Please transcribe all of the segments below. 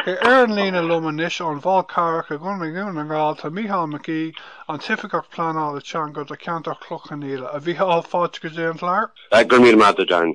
Ar an líne liom anois ón bhFál Carrach i gContae Dhún na nGall tá Mícheál Mac Aoidh, an tOifigeach Pleanála Teanga do cheantar Chloich Cheann Fhaola. A Mhíchíl, fáilte go dtí an gclár. Go raibh míle maith agat, Darren.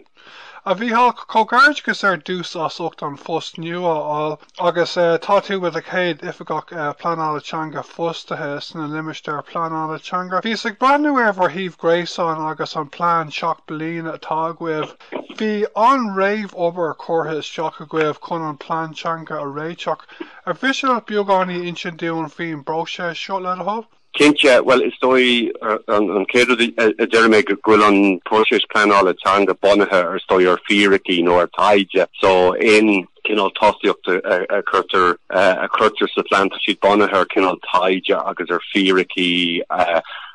A Mhíchíl, comhghairdeachas ar dtús as ucht an phost nua a fháil agus tá tú i do chéad Oifigeach Pleanála Teanga fostaithe sna Limistéir Pleanála Teanga. Bhíos ag breathnú ar bhur suíomh gréasáin agus an plean seacht bliana atá agaibh. Bhí an-réamhobair curtha isteach agaibh chun an plean teanga a réiteach. Ar mhiste leat beagáinín insint dúinn faoin bpróiseas seo, le do thoil? Cinnte. Bhuel, is dóigh, an chéad rud a déarfaidh mé go bhfuil an próiseas pleanála teanga bunaithe ar, is dóigh, ar fhíricí nó ar thaighde. So, aon cineál tosaíocht a chuirtear, a chuirtear sa phlean, tá siad bunaithe ar chineál taighde agus ar fhíricí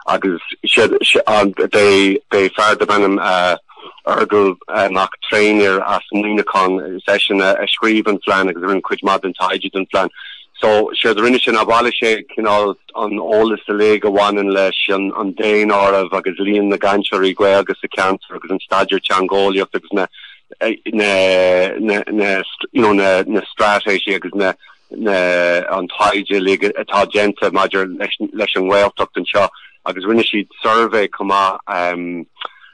agus siad, siad, beidh, beidh fear darb ainm, Ardghal Mac Thréinfhir as Muineachán is eisean a scríobh an phlean agus a rinne cuid mhaith den taighde don phlean. So, séard a rinne sé ná bhailigh sé cineál an t-eolas uilig a bhaineann leis an daonáireamh agus líon na gcainteoirí Gaeilge sa cheantar agus an staidéar teangeolaíocht agus na na na na you know na na straitéisí agus na na an taighde uilig atá déanta maidir leis leis an nGaeltacht anseo agus rinne siad suirbhé chomh maith um,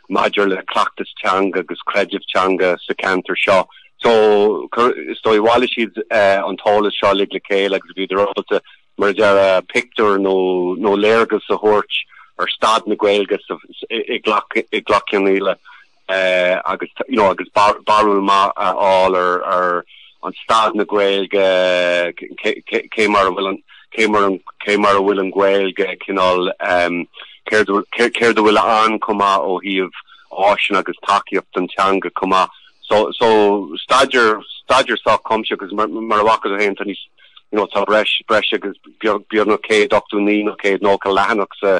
maidir le cleachtas teanga agus creideamh teanga sa cheantar seo. So, is dóigh bhailigh siad an t-eolas seo uilig le chéile agus bhíodar ábalta, mar a déarfá, pictiúr nó léargas a thabhairt ar staid na Gaeilge i gCloich Cheann Fhaola agus, you know, agus barúil maith a fháil ar, an staid na Gaeilge, cé mar a bhfuil an, cé mar an, cé mar a bhfuil an Ghaeilge cineál, céard a, céard a bhfuil ann chomh maith ó thaobh áiseanna agus tacaíocht don teanga chomh maith. So, so staidéar, staidéar sách cuimsitheach agus mar, mar a bhfaca tú fhéin tá níos, you know, tá breis, breis agus beag, beagnach céad ochtó naoi nó céad nócha leathanach sa,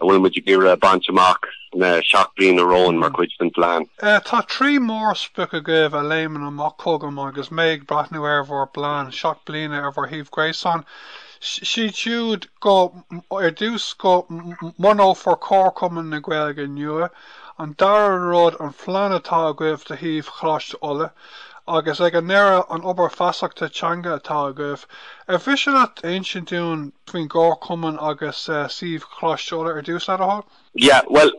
a bhfuil muid ag iarraidh a bhaint amach sna seacht bliana romhainn mar chuid den phlean. Tá trí mhórsprioc agaibh a léimeann amach chugam agus mé ag breathnú ar bhur bplean seacht bliana ar bhur suíomh gréasáin. Siad siúd go, ar dtús, go mbunófar comharchumann na Gaeilge nua, an dara rud, an phlean atá agaibh do shuíomh Choláiste Uladh, Agus ag an ndeireadh, an obair feasachta teanga atá agaibh. Ar mhiste leat insint dúinn faoin gcomharchumann agus suíomh Choláiste Uladh ar dtús, le do thoil? Yeah, bhuel,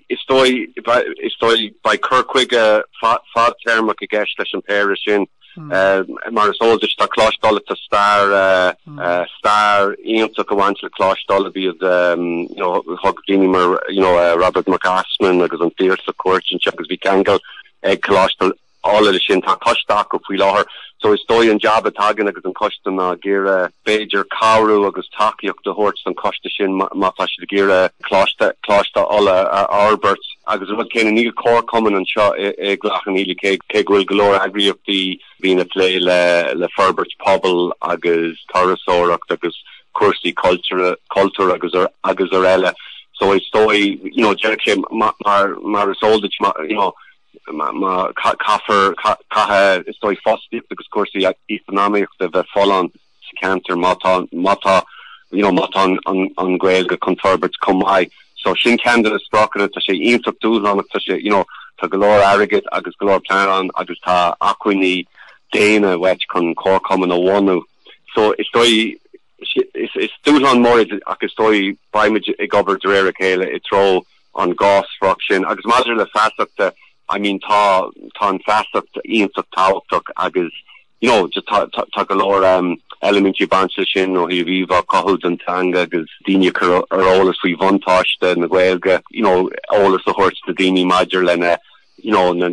is dóigh, is dóigh, beidh cur chuige fadtéarmach i gceist leis an péire sin. Mar is eol duit, tá Coláiste Uladh, tá stair, stair iontach ag baint le Coláiste Uladh. Bhíodh, you know, thug daoine mar, you know, Robert Mac Easmainn agus an Piarsach cuairt anseo agus bhí ceangal, ag Coláiste Uladh le sin. Tá coiste acu faoi láthair so is dóigh an jab atá againn agus ag an coiste ná ag iarraidh b'fhéidir cabhrú agus tacaíocht a thabhairt don coiste sin má tá siad ag iarraidh Coláiste Coláiste Uladh a fhorbairt agus an rud céanna níl comharchumann anseo i gCloich Cheann Fhaola cé go bhfuil go leor eagraíochtaí A bhíonn ag plé le forbairt pobail agus turasóireacht agus cúrsaí cultúir agus ar eile. So is dóigh, you know, deirfeadh sé, mar is eol duit, you know, ná caithfear, caithfidh, is dóigh, fostaíocht agus cúrsaí eacnamaíochta a bheith folláin. sa cheantar má tá, má tá, you know, má tá an, an, an Ghaeilge chun forbairt chomh maith. So sin ceann de na spriocanna. Tá sé iontach dúshlánach. Tá sé, you know, tá go leor airgid agus go leor pleananna agus tá acmhainní daonna uait chun comharchumann a bhunú. So is dóigh, is, is dúshlán mór é ach is dóigh beimid ag obair de réir a chéile i dtreo an cinéal sprioc sin. Agus maidir le feasacht, I mean, tá, tá an feasacht iontach tábhachtach agus, You know, just tá, tá, tá go leor um, eilimintí ag baint leis sin ó thaobh íomhá a chothú den teanga agus daoine a chur ar an eolas faoi bhuntáiste na Gaeilge, you know, eolas a thabhairt do daoine maidir lena, you know, na,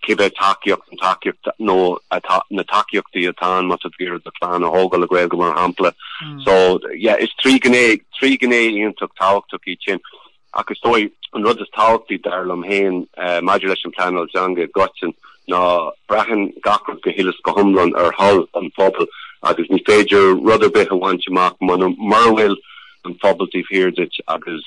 cibé tacaíocht, an tacaíocht nó atá, na tacaíochtaí atá ann má tá tú ag iarraidh do chlann a thógáil le Gaeilge mar shampla. Mm. So, yeah, is trí ghné, trí ghné iontach tábhachtach iad sin. Ach is dóigh, an rud is tábhachtaí, dar liom féin, maidir leis an bpleanáil teanga i gcoitinn, ná braitheann gach rud go huile is go hiomlán ar thoil an phobail agus ní féidir rud ar bith a bhaint amach mura bhfuil an pobal taobh thiar duit agus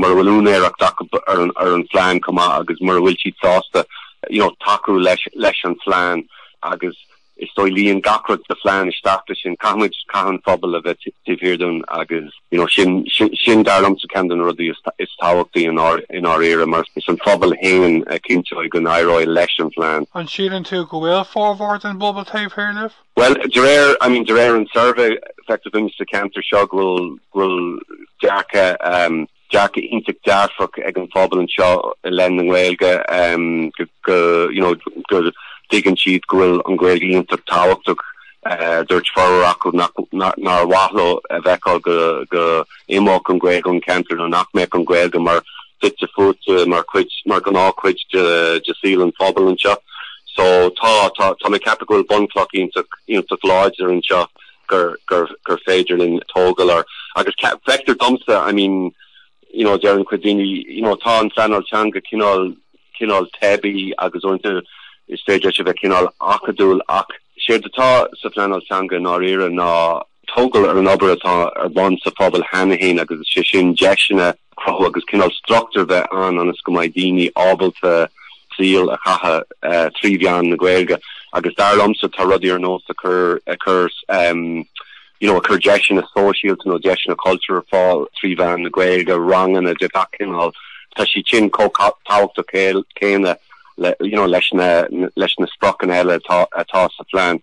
mura bhfuil úinéireacht acu ar an phlean chomh maith agus mura bhfuil siad sásta, you know, tacú leis an phlean agus. Is dóigh luíonn gach rud sa phlean isteach leis sin. Caithfimid, caithfidh an phobal a bheith taobh thiar dúinn agus you know, sin, sin, sin dar liomsa ceann de na rudaí is, is tábhachtaí i ndáir, i ndáiríre mar is an phobal féin a chinnteoidh go n-éireoidh leis an phlean. An síleann tú go bhfuil formhór den bpobal taobh thiar díbh? Bhuel, de réir, I mean, de réir an suirbhé, feictear dúinn sa ceantar seo go bhfuil, go bhfuil dearcadh um, dearcadh iontach dearfach ag an phobal anseo i leith na nGaeilge go you know go dtuigeann siad go bhfuil an Ghaeilge iontach tábhachtach dúirt formhór acu nár mhaith leo a fheiceáil go go imeodh an Ghaeilge ón ceantar nó nach mbeadh an Ghaeilge mar fite fuaite mar chuid mar gnáth chuid de de saol an phobal anseo so tá tá tá mé ag ceapadh go bhfuil bunchloch iontach iontach láidir anseo gur, gur, gur féidir linn tógáil air, agus ce, feictear domsa, I mean, you know, deireann cuid daoine, you know, tá an phleanáil teanga cineál, cineál teibí agus uaireanta is féidir leis a bheith cineál acadúil ach séard atá sa phleanáil teanga i ndáiríre ná tógáil ar an obair atá ar bun sa phobal cheana féin agus is é sin deiseanna cruthú agus cineál struchtúr a bheith ann ionas go mbeidh daoine ábalta saol a chaitheamh trí mheán na Gaeilge. Agus dar liomsa tá rudaí ar nós ag cur ag cur you know ag cur deiseanna sóisialta nó deiseanna cultúir ar fáil trí mheán na Gaeilge, ranganna de gach cineál, tá siad sin chomh tábhachtach céanna le you know leis na leis na spriocanna eile atá atá sa phlean.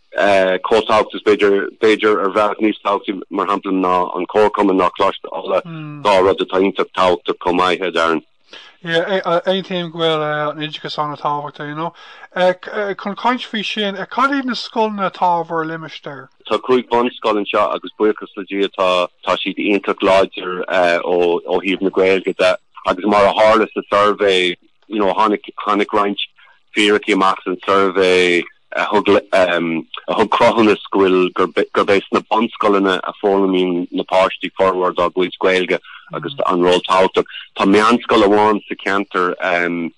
Chomh tábhachtach is b'fhéidir, b'fhéidir, ar bhealach níos tábhachtaí, mar shampla, ná an Comharchumann nó Coláiste Uladh, dhá rud atá iontach tábhachtach chomh maith, a Darren. Yeah, aontaím go bhfuil an oideachas an-tábhachtach, you know. Chun caint faoi sin, cad iad na scoileanna atá i bhur limistéar? Tá cúig bhunscoil anseo agus buíochas le Dia tá, tá siad iontach láidir ó thaobh na Gaeilge de. Agus mar a tharla sa suirbhé, you know, tháinig, tháinig roinnt fíricí amach san suirbhé a thug, um, a thug cruthúnas go bhfuil, gurb, gurb ea sna bunscoileanna a foghlaimíonn na páistí formhór dá gcuid Gaeilge agus an ról tábhachtach. Tá meánscoil amháin sa cheantar, um,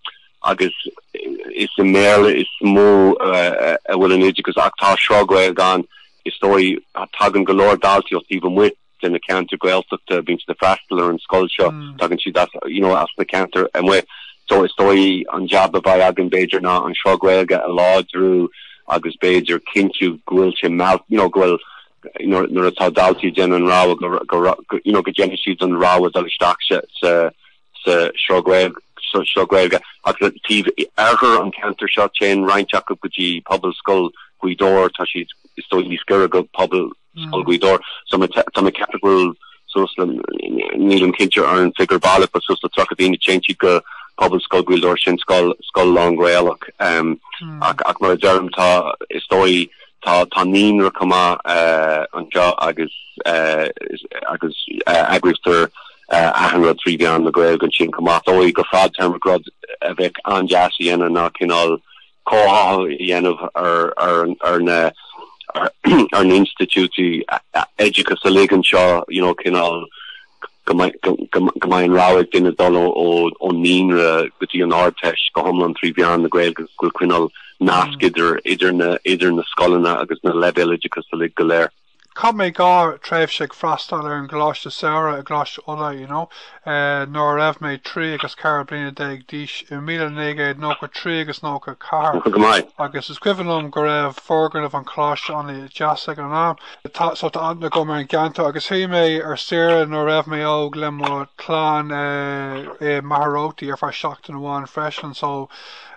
agus is i mBéarla is mó, uh, a bhfuil an oideachas ach tá sruth Gaeilge ann. Is dóigh, tagann go leor daltaí ó taobh amuigh. de na ceantair Gaeltachta, bíonn siad ag freastal ar an scoil seo, tagann siad as, you know, as na ceantair amuigh. So is dóigh an jab a bheidh againn b'fhéidir ná an sruth Gaeilge a láidriú agus b'fhéidir cinntiú go bhfuil sé mheall-, you know, go bhfuil, nuair atá daltaí ag déanamh an rogha, go, go, go, you know, go ndéanann siad an rogha dul isteach sa, sa, sa sruth Gaeilge, sa sruth Gaeilge. Agus taobh oirthear an cheantair seo, téann roinnt acu go dtí pobalscoil Ghaoth Dobhair, tá siad, is dóigh, níos giorra go pobal scoil Ghaoth Dobhair. So tá mé ag ceapadh go bhfuil suas le nílim cinnte ar an figiúr baileach but suas le tríocha duine a théann go Pobalscoil Ghaoth Dobhair sin scoil scoil lán-Ghaelach ehm ach ach mar a deirim tá is dóigh tá tá naíonra chomh maith eh anseo agus eh agus eh eagraítear eh achan rud trí mheán na Gaeilge ansin chomh maith is dóigh go fadtéarmach rud a bheadh an-deas a dhéanamh ná cineál comhtháthú a dhéanamh ar na hinstitiúidí oideachais uilig anseo, you know, cineál go mbeidh an rogha ag duine dul ón naíonra go dtí an Ardteist go hiomlán trí mheán na Gaeilge agus go bhfuil coinneáil nasc mm. idir idir na idir na scoileanna agus na leibhéal oideachais uilig go léir. Chaith mé dhá thréimhse ag freastáil ar an gcoláiste samhraidh i gColáiste Uladh, you know, nuair a raibh mé trí agus ceithre bliana déag d'aois, i míle naoi gcéad nócha trí agus nócha a ceathair, agus is cuimhin liom go raibh foirgneamh an choláiste ana dheas ag an am. Tá, so tá aithne agam ar an gceantar agus chuaigh mé ar saoire nuair a raibh mé óg le mo chlann i Machaire Rabhartaigh ar feadh seachtain amháin freisin, so.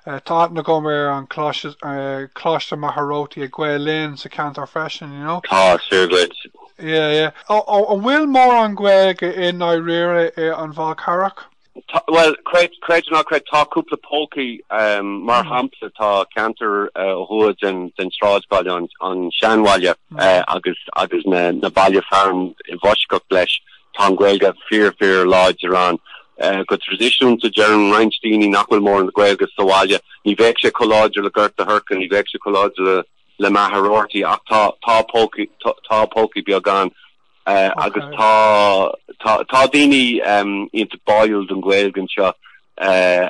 Tá aithne agam ar an Coláiste Mhachaire Rabhartaigh ag Gael Linn sa cheantar freisin, you know. Tá, is fíor dhuit. Yeah, yeah. Ó, an bhfuil mórán Gaeilge i ndáiríre ar an bhFál Carrach? Tá, bhuel, creid, creid ná creid, tá cúpla pócaí. Mar shampla, tá ceantar ó thuaidh den, den sráidbhaile, an, an seanbhaile, agus, agus na, na baile fearainn i bhfoisceacht leis. Tá an Ghaeilge fíor, fíor láidir ann go traidisiúnta. Deireann roinnt daoine nach bhfuil mórán de Ghaeilge sa bhaile. Ní bheadh sé chomh láidir le Gort a' Choirce, ní bheadh sé chomh láidir le le Machaire Rabhartaigh ach tá tá pócaí tá pócaí beag ann agus tá tá tá daoine iontach báúil don Ghaeilge anseo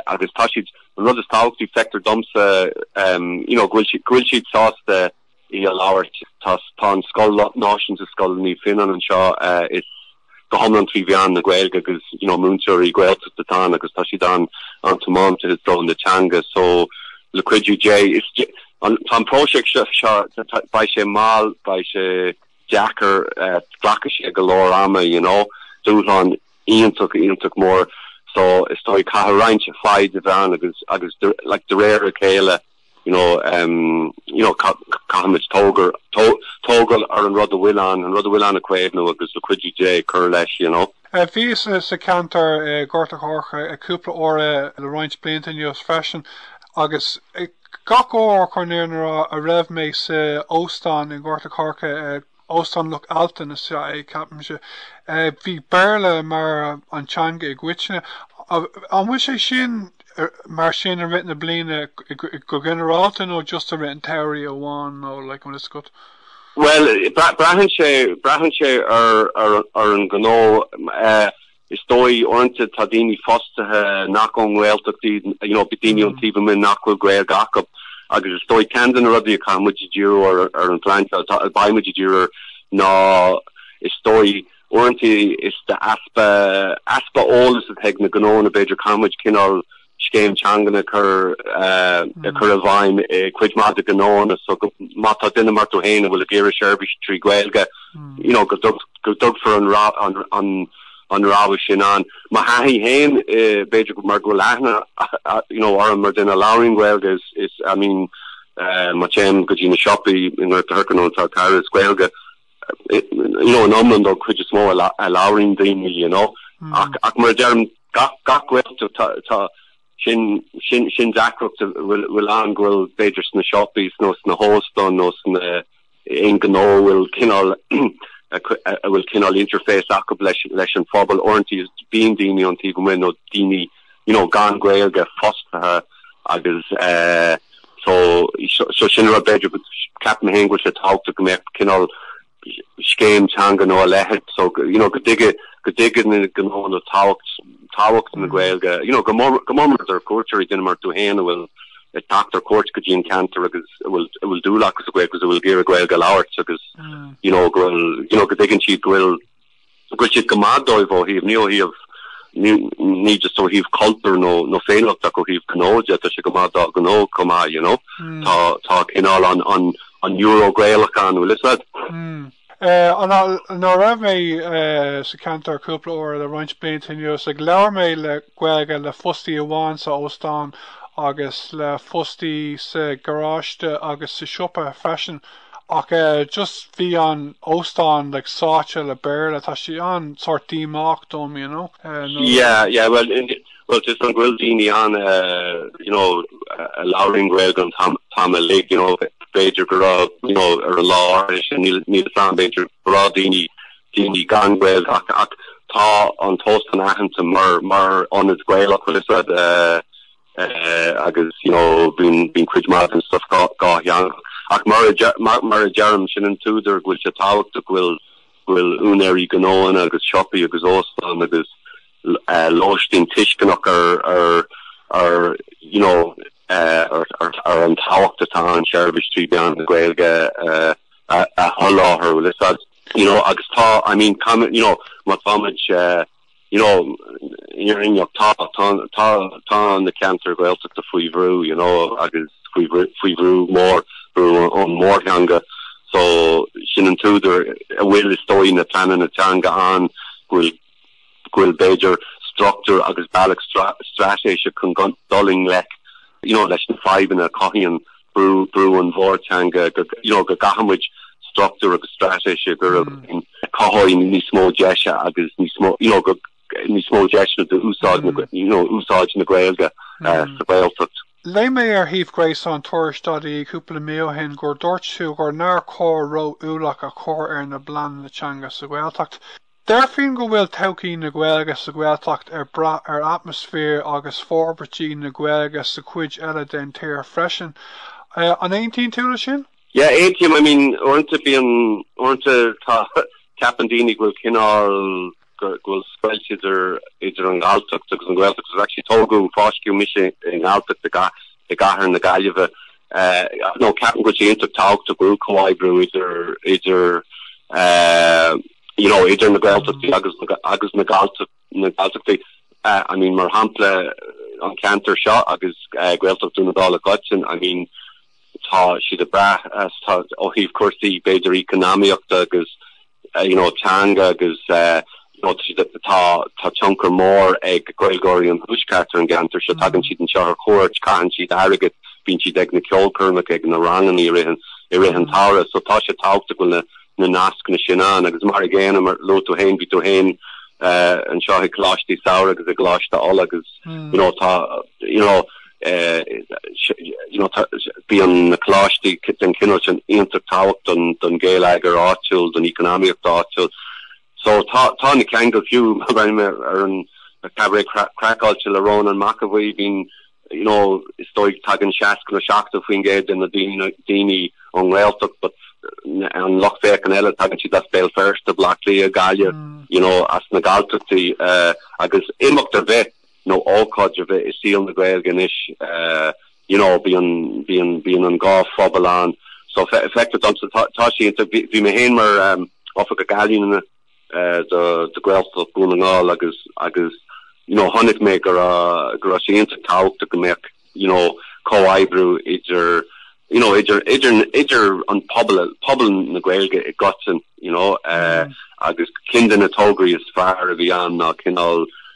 agus tá siad an rud is tábhachtaí feictear domsa you know go bhfuil siad go bhfuil siad sásta í a labhairt. Tá an scoil náisiúnta, Scoil Naomh Fionnán anseo, is go hiomlán trí mheán na Gaeilge agus you know múinteoirí Gaeltachta atá ann agus tá siad an an-tiomanta is dóigh na teanga so le cuidiú Dé is an tá an próiseas seo seo beidh sé mall beidh sé deacair glacfaidh sé go leor ama you know dúshlán iontach iontach mór so is dóigh caithfidh roinnt foighde a bheith ann agus agus like de réir a chéile. You know, um, you know, ca, caithfimid tógar, tó, tógail ar an rud a bhfuil ann, an rud a bhfuil ann a caomhnú agus le cuidiú Dé cur leis, you know. Bhíos sa cheantar i nGort a' Choirce cúpla uair le roinnt blianta anuas freisin agus gach uair chun an fhírinne a rá a raibh mé sa óstán i nGort a' Choirce, Óstán Loch Altan is ea é, ceapaimse. Bhí Béarla mar an teanga i gcoitinne. An bhfuil sé sin mar sin i rith na bliana go ginearálta nó just i rith an tsamhraidh amháin nó like an bhfuil a fhios agat? Bhuel, braitheann sé, braitheann sé ar an, ar an ghnó. Is dóigh, uaireanta, tá daoine fostaithe nach ón nGaeltacht iad, you know, daoine ón taobh amuigh nach bhfuil Gaeilge acu. Agus is dóigh, ceann de na rudaí a chaithfidh muid ag díriú ar, ar an phlean teanga, a mbeidh muid ag díriú air, ná, is dóigh, uaireanta, is easpa, easpa eolais atá ag na gnóanna, b'fhéidir, caithfidh muid cineál, scéim teangan a chur a chur i bhfeidhm i gcuid mhaith de ghnóanna. So go má tá duine mar tú fhéin a bhfuil ag iarraidh seirbhís trí Ghaeilge, you know, go dtug go dtugfar an an an an rogha sin ann. Mo thaithí fhéin, b'fhéidir go mar go bhfuil aithne you know orm mar duine a labhraíonn Gaeilge is is I mean, eh, má téim go dtí na siopaí i nGort a' Choirce nó an Fál Carrach is Gaeilge. you know, in iomlán don chuid is mó a labhraíonn daoine, you know. Ach, ach mar a deirim, gach, gach Gaeltacht tá, tá, sin, sin, sin deacracht a bhfuil, bhfuil ann go bhfuil b'fhéidir sna siopaí nó sna hóstáin nó sna, aon gnó a bhfuil cineál, a bhfuil cineál interface acu leis, leis an phobal. Uaireanta bíonn daoine ón taobh amuigh nó daoine, you know, gan Gaeilge fostaithe agus eh, so, so sin rud b'fhéidir go, ceapaim fhéin go bhfuil sé tábhachtach go mbeadh cineál scéim teanga nó a leithéid, so, you know, go dtuigfidh, go dtuigfidh na gnóanna tábhacht, tábhacht na Gaeilge, you know, go mór, go mór mór ar cuairteoirí, duine mar tú fhéin a bhfuil ag teacht ar cuairt go dtí an ceantar agus a bhfuil, a bhfuil dúil acu sa Gaeilge agus a bhfuil ag iarraidh Gaeilge a labhairt agus, you know, go bhfuil, you know, go dtuigeann siad go bhfuil, go bhfuil sé go maith dóibh ó thaobh, ní ó thaobh, ní just ó thaobh cultúir nó féiniúlachta ach ó thaobh gnó de, tá sé go maith dá gnó chomh maith, you know. Tá, tá cineál an, an, an Euro Gaelach ann, bhfuil 'fhios a'd. Nuair a raibh mé sa cheantar cúpla uair le roinnt blianta anuas, labhair mé le Gaeilge, le fostaí amháin sa óstán agus le fostaí sa gharáiste agus sa siopa freisin. Ach just bhí an óstán like sáite le Béarla. Tá sé sin sórt díomách dom, you know, nó le. Yeah, yeah, well, well, tá's a'm go bhfuil daoine ann, you know, a labhraíonn Gaeilge an t-am uilig, you know, b'fhéidir go raibh, you know, ar an lá áirithe sin níl, níl 'fhios a'm, b'fhéidir go raibh daoine, daoine gan Ghaeilge ach, ach tá an t-óstán aitheanta mar, mar ionad Gaelach, bhfuil 'fhios a'd, eh, agus you know bíonn bíonn cuid maith den stuff dhá dhá theangach. Ach mar a deir mar mar a deirim, sin an t-údar go bhfuil sé tábhachtach go bhfuil go bhfuil úinéirí gnóanna agus siopaí agus óstán agus eh lóistín tuisceanach ar ar ar you know eh ar ar ar an tábhacht atá ann seirbhís trí mheán na Gaeilge eh a a sholáthar. bhfuil 'fhios a'd you know agus tá I mean you know má táimid eh you know, i ndáiríre, tá, tá, tá, tá na ceantair Ghaeltachta faoi bhrú, you know, agus faoi bhrú, faoi bhrú mór, brú ón mórtheanga. So, sin an t-údar a bhfuil, is dóigh, na pleananna teanga ann, go bhfuil, go bhfuil, b'fhéidir, struchtúr agus bealach straitéiseach chun dul i ngleic, you know, leis na fadhbanna a chothaíonn, brú ón mórtheanga you know go gcaithfimid struchtúr agus straitéis a chur i bhfeidhm a chothóidh níos mó deise agus níos mó, you know, níos mó deiseanna d'úsáid na, you know, úsáid na Gaeilge sa Ghaeltacht. Léigh mé ar shuíomh gréasáin Tuairisc.ie cúpla mí ó shin gur dúirt tú gur nár chóir ró-ualach a chur ar na pleananna teanga sa Ghaeltacht. Déarfainn go bhfuil todhchaí na Gaeilge sa Ghaeltacht ag brath ar atmaisféar agus forbairtí na Gaeilge sa chuid eile den tír freisin. An aontaíonn tú le sin? Yeah, aontaím. I mean, uaireanta bíonn, uaireanta tá, ceapann daoine go bhfuil cineál, go bhfuil scoilt idir, idir an Ghalltacht agus an Ghaeltacht. Because actually tógadh, fáisceadh mise i nGalltacht i gcathair na Gaillimhe. so ceapaim go bhfuil sé iontach tábhachtach go bhfuil comhoibriú idir, idir, you know, idir na Gaeltachtaí agus na, agus na Gallta, na Galltachtaí, eh, I mean, mar shampla, an ceantar seo agus, eh, Gaeltacht Dhún na nGall i gcoitinne, I mean, tá siad ag brath, tá, ó thaobh cúrsaí, b'fhéidir, eacnamaíochta agus, eh, you know, teanga agus, eh, you know, tá siad ag, tá, tá tionchar mór ag Gaeilgeoirí an Tuaiscirt ar an gceantar seo, tagann siad anseo ar chuairt, caitheann siad airgead, bíonn siad ag na ceolchoirmeacha, ag na ranganna i rith an, i rith an tsamhraidh, so tá sé tábhachtach go bhfuil na, na nascanna sin ann agus mar an gcéanna, mar a luaigh tú féin, bhí tú féin anseo i gColáistí Samhraidh agus i gColáiste Uladh agus, you know, tá, you know, you know, bíonn na coláistí den chineál sin iontach tábhachtach don ghéilleagar áitiúil, don eacnamaíocht áitiúil. So tá, tá na ceangail fiú, I mean an Cabaret Craiceáilte le Rónán Mac Aodha Bhuí, bíonn, You know, is dóigh tagann 60 nó 70% de na daoine ón nGaeltacht but an lucht féachaint eile tagann siad as Béal Feirste, Baile Átha Cliath, Gaillimh, you know, as na Galltachtaí agus imeacht ar bith nó ócáid ar bith i saol na Gaeilge anois, you know, bíonn an dhá phobal ann. So, feictear domsa, tá sé, bhí mé féin mar Oifigeach Ealaíne na. do Ghaeltacht Dhún na nGall agus agus you know chonaic mé go raibh go raibh sé iontach tábhachtach go mbeadh you know comhoibriú idir you know idir idir idir an pobal pobal na Gaeilge i gcoitinne you know agus ceann de na tograí is fearr a bhí ann ná cineál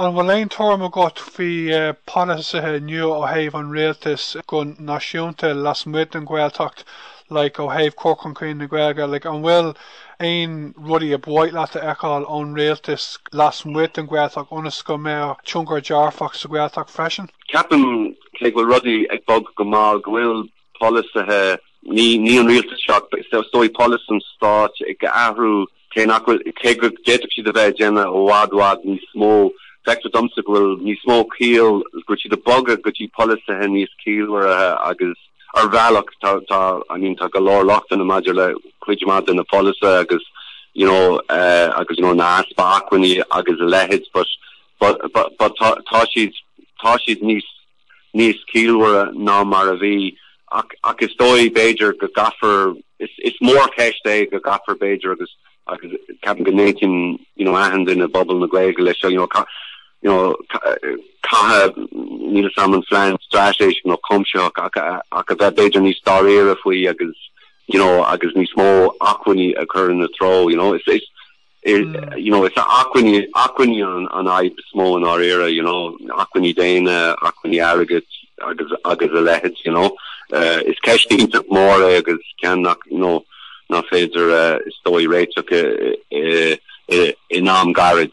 An bhfuil aon tuairim agat faoi pholasaithe nua ó thaobh an rialtais go náisiúnta lasmuigh den Ghaeltacht like ó thaobh cur chun cinn na Gaeilge like an bhfuil aon rudaí ar mhaith leat a fheiceáil ón rialtas lasmuigh den Ghaeltacht ionas go mbeadh tionchar dearfach sa Ghaeltacht freisin? Ceapaim cé go bhfuil rudaí ag bog go mall go bhfuil polasaithe ní ní an rialtas ach is dóigh polasaí an stáit ag athrú Cé nach bhfuil, cé go bhféadfadh siad a bheith ag déanamh i bhfad, bhfad níos mó, feictear domsa go bhfuil níos mó ciall, go bhfuil siad ag bogadh go dtí polasaithe níos ciallmhaire agus, ar bhealach, tá, tá, I mean, tá go leor lochtanna maidir le cuid mhaith de na polasaithe agus, you know, agus, you know, easpa acmhainní agus a leithéid, but, but, but, but tá, tá siad, tá siad níos. níos ciallmhaire ná mar a bhí. Ach, ach is dóigh, b'fhéidir, go gcaithfear, is, is mórcheist é go gcaithfear, b'fhéidir, agus, agus ceapaim go n-aontaíonn, you know, achan duine i bpobal na Gaeilge leis seo, you know, ca-, you know, ca-, caithfidh, níl fhios a'm, plean straitéiseach nó cuimsitheach ach, ach a bheith, b'fhéidir, níos dáiríre faoi agus, you know, agus níos mó acmhainní a chur ina treo, you know. Is, is. You know, is acmhainní, acmhainní an fhadhb is mó i ndáiríre, you know, acmhainní daonna, acmhainní airgid agus, agus a leithéid, you know. Is ceist iontach mhór é agus ceann nach, you know, nach féidir, is dóigh, réiteach i, in am gairid.